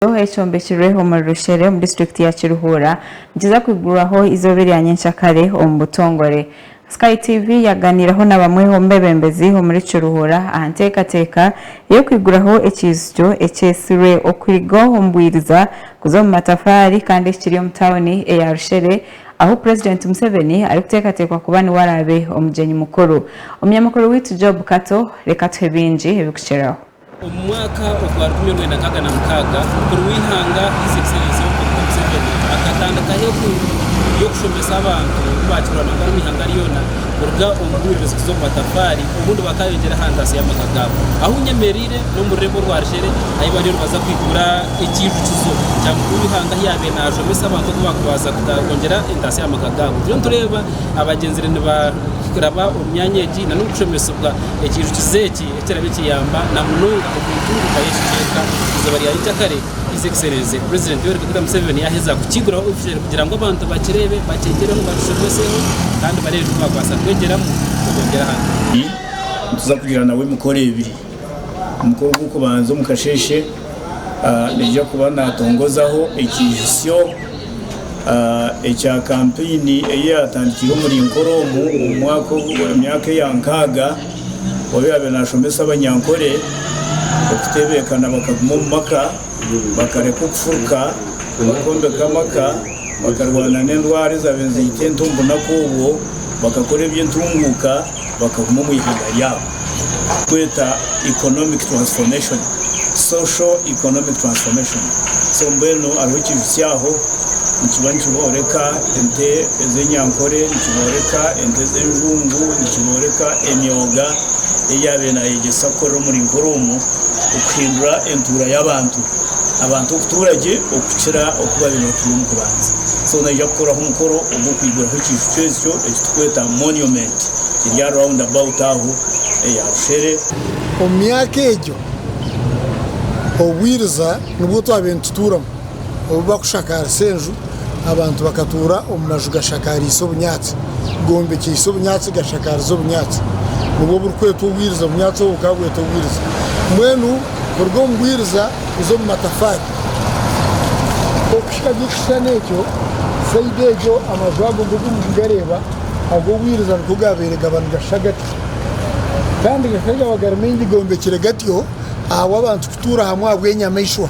Ekyombeko ekyombekirwe omuri Rushere omu disiturikiti ya Kiruhuura nikiza kwigurwaho eizooba erya nyentsya kare omu butongore. Sky TV yaganiireho na bamwe omu bebembezi omuri Kiruhuura aha nteekateeka ey'okwiguraho ekiijukyo ekyetsirwe okuruga omu bwiriza kuza omu matafaari kandi ekiri omu tauni eya Rushere ahu Purezidenti Museveni arikuteekateekwa kuba niwe araabe omugyenyi mukuru. Omunyamakuru waitu Job Kato reka atuhe bingi ebirikukireho. Omu mwaka ogwa rukumi orwenda nkaaga na mukaaga, Omukuru w'Eihanga, His Excellency Yoweri Museveni, akatandikaho enkungu y'okushomesa abantu obu baakirwa nabwo ab'omu ihanga ryona kuruga omu bwiruzi kuza omu matafaari obundi bakaayongyera aha ntaasyo y'amaka gaabo. Ahu nyemereire n'omu rurembo orwa Rushere ahi bariyo nibaza kwigura Ekiijukizo kya Mukuru w'Eihanga ahi yaabaire naashomesa abantu oku bakubaasa kwongyera entaasyo aha maka gaabo. Turiyo nitureeba abagyenzire nibaraba omu myanya egi nan'omu kushomesibwa Ekiijukizo eki. Eki kiraabe kiyamba na munonga omu ntunguuka y'eki kicweka eizooba rya Nyikyakare, His Excellency President Yoweri Kaguta Museveni yaaheza kukiguraho obushwere kugira ngu abantu bakireebe, bakyegyereho, bakishomeseho kandi bareebe ebi baabaasa kwegyeramu kugongyera aha ntunguuka. Nituza kugira nawe emikoro ebiri. Omukoro gw'okubanza omu kasheeshe naija kuba naatongozaho ekiijutsyo ekya kampeyini ei yaatandikiire omuri Nkoroomu omu mwaka, emyaka eya nkaaga. oyaabe naashomesa abanyankore okutebeekana bakaguma omu maka, bakareka okufuruka, bakombeka amaka, bakarwana n'endwara ezaabe niziita ente omu bunaku obwo, bakakora eby'entunguuka, bakaguma omu ihanga ryaabo. Kweta economic transformation, social economic transformation, so mbwenu hariho ekiiju kyaaho nikiba nikyoreka Ente ez'enyankore nikibooreka ente ez'enjungu nikibooreka emyoga ei yaabaire naayegyesa kukora omuri nk'orwomu okuhindura entuura y'abantu, abantu okutuura gye okukira oku baabaire nibatura omu kubanza. So naija kukoraho omukoro ogw'okwiguraho ekijuju ekyo eki turikweta monument eri aha round about aho eya bushere. Omu myaka egyo obwiriza nibwo twabaire nitutuuramu. Obu bakushakaarisa enju, abantu bakatuura omu maju gashakaariise obunyaatsi, gombekyeise obunyaatsi, gashakaarize obunyaatsi. Nibwo burikwetwa obwiriza, obunyaatsi obwo bukaba bwetwa obwiriza. Mbwenu kuruga omu bwiriza kuza omu matafaari, okuhika aha by'ekishushani ekyo, sayidi egyo, amaju ago nk'oku murikugareeba, ag'obwiriza nikwo gaabaire gaba nigashushana gatyo. Kandi gakagaba gari maingi gombekire gatyo ahabw'abantu kutuura hamwe ahabw'enyamaishwa.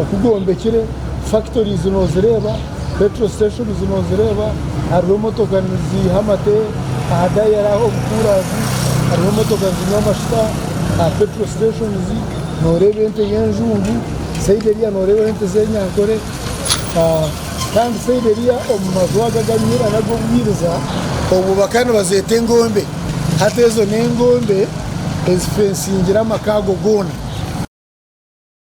oku gwombekire, factories nozireeba, petrol stations nozireeba, hariho emotoka niziiha amate aha dayari aho omu kuurazi, hariho emotoka nizinywa amashuta aha petrol stations, noreeba ente y'enjungu, sayidi eriya noreebaho ente z'enyankore, kandi sayidi eriya omu maju ago agariho ag'obwiriza obwo bakaba nibazeeta engombe, hati ezo n'engombe ezifensingire amaka ago goona.